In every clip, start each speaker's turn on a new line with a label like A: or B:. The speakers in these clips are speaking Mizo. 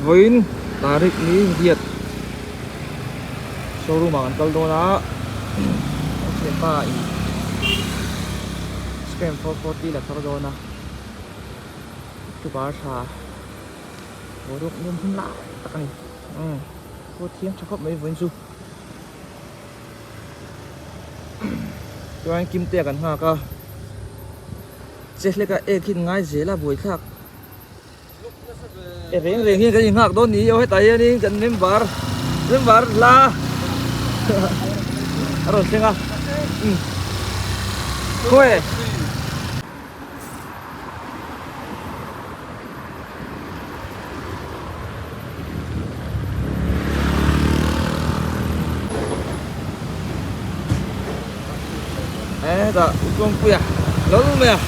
A: Vawiin Tariq ni India showroom ah kan kal dawn a, Muslim pa in Scram four forty la thar dawn a, October tha boruak nuam hmun lai tak a ni, umm khua thiang tha khawp mai vawiin chu, Chuan Kim te ah kan nghak a, che hlek a, Ek hi in ngai zel a buai thlak. Reng reng hi kan inhak dawn ni io hetah hianin kan member member hla a rawn thleng a khawi e Ê ta utlawm pui à Lo lul mai à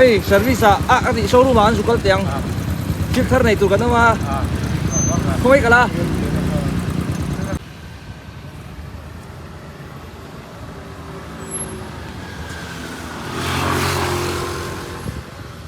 A: Ê service à a a tih showroom ah an zuk kal teh ang Thil thar nei tur kan awm a Khawmei kal a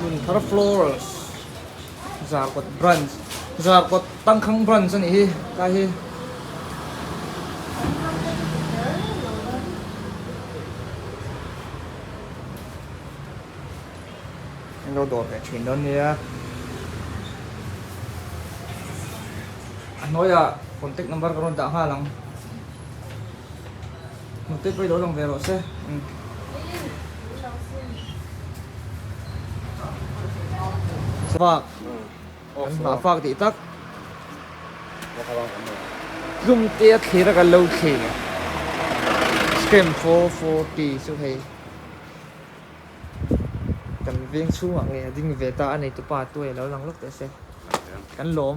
A: Hmun thar florals zarkawt branch zarkawt tangkhang branch ani hi ka hi. Alo dawr leh thin dawn nia. A hnuaia contact number ka rawn dah nghal ang. Hnute pawh i lo lang ve rawh se. Fak. Kan hna fak tih tak. Hlum te a thlir a kan lo thlir. Screen 440 chu hei. Kan veng chhungah nge a ding ve ta a neitupa tuai a lo lang lawk teh se. Kan lawm.